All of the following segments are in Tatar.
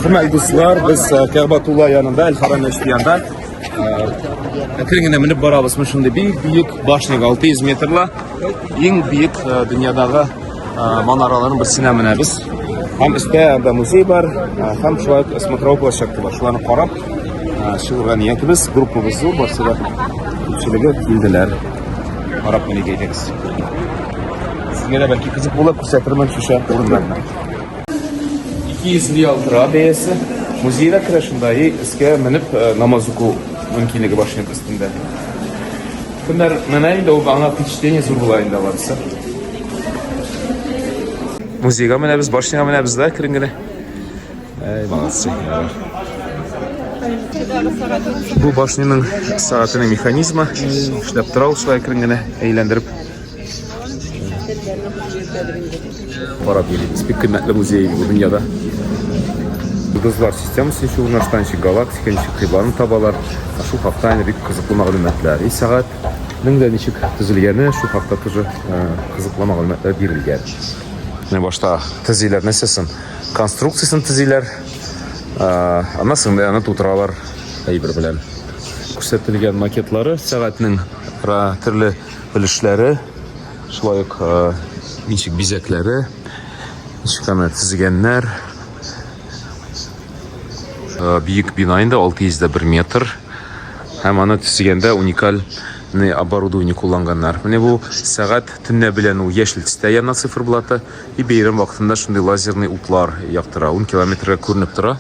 Хөрмәтле дуслар, без э, Кәгъбатулла янында, Әл-Харам мәчетендә әкрен генә менеп барабыз. Менә шундый бик биек башняга 600 метрлы иң биек э, дөньядагы э, манараларның берсенә менәбез. Һәм өстә анда музей бар, һәм шулай ук смотровой площадка бар. Шуларны карап чыгырга ниятебез, группабыз зур, барсы да күпчелеге килделәр. Карап менеп әйтегез. Сезгә дә бәлки кызык булып күрсәтермен шушы урыннарны. 200 реал тора бәясе. Музейда керә шунда и искә менеп э, намаз уку мөмкинлеге бар шуның өстендә. Кемнәр менә инде ул аңа впечатление зур була инде барысы. Музейга менәбез, башняга менәбез дә керен генә. Әй, молодцы. Бу башняның сәгатенең механизмы эшләп тора ул шулай керен генә әйләндереп. Карап йөрибез. Бик кыйммәтле музей бу дөньяда. Йолдызлар системасы ничек урнашкан, ничек галактика, ничек кыйбланы табалар. Шул хакта инде бик кызыклы мәгълүматлар. И сәгать нең дә ничек төзелгәне, шул хакта тоже кызыклы мәгълүматлар бирелгән. Менә башта төзиләр нәрсәсен? Конструкциясен төзиләр. Аннан соң менә аны тутыралар әйбер белән. Күрсәтелгән макетлары сәгатьнең төрле өлешләре, шулай ук ничек бизәкләре, ничек аны тезгәннәр. Бөек бина инде 601 метр. Һәм аны тезгәндә уникаль не оборудование кулланганнар. Менә бу сәгать төнлә белән ул яшел төстә яна циферблаты и бәйрәм вакытында шундый лазерный утлар яктыра. 10 километрга күренеп тора.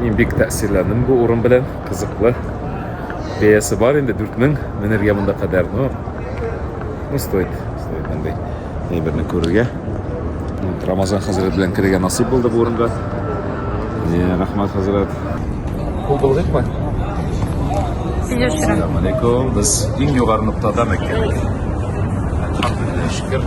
Мин бик тәэсирләндем бу урын белән, кызыклы. Бәясе бар инде 4000 менергә монда кадәр, но ну стоит, стоит мондый әйберне күрергә. Рамазан хәзрәт белән керергә насыйп булды бу урынга. Э, рахмат хәзрәт. Кул булдыкмы? Сине өчен. Ассаламу алейкум. Без иң югары ноктада мәктәп. Алхамдулиллах, шөкер.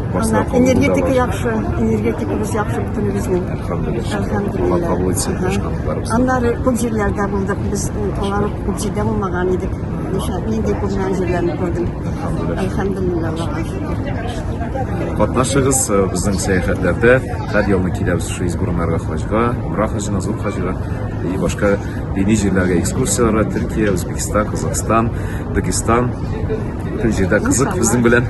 Ана, энергетика яхшы, энергетикабыз яхшы бөтенебезнең. Аннары күп җирләрдә булдык, без алар күп җирдә булмаган идек. Ниша, нинди күргән җирләрне күрдем. Әлхәмдулилла, Аллаһка шөкер. Катнашыгыз э, безнең сәяхәтләрдә. Һәр елны киләбез шул Избурнарга хаҗга, Умра хаҗына, Зур хаҗга и башка дини җирләргә экскурсияләргә Төркия, Үзбекстан, Казахстан, Дагестан. Бөтен җирдә кызык безнең белән.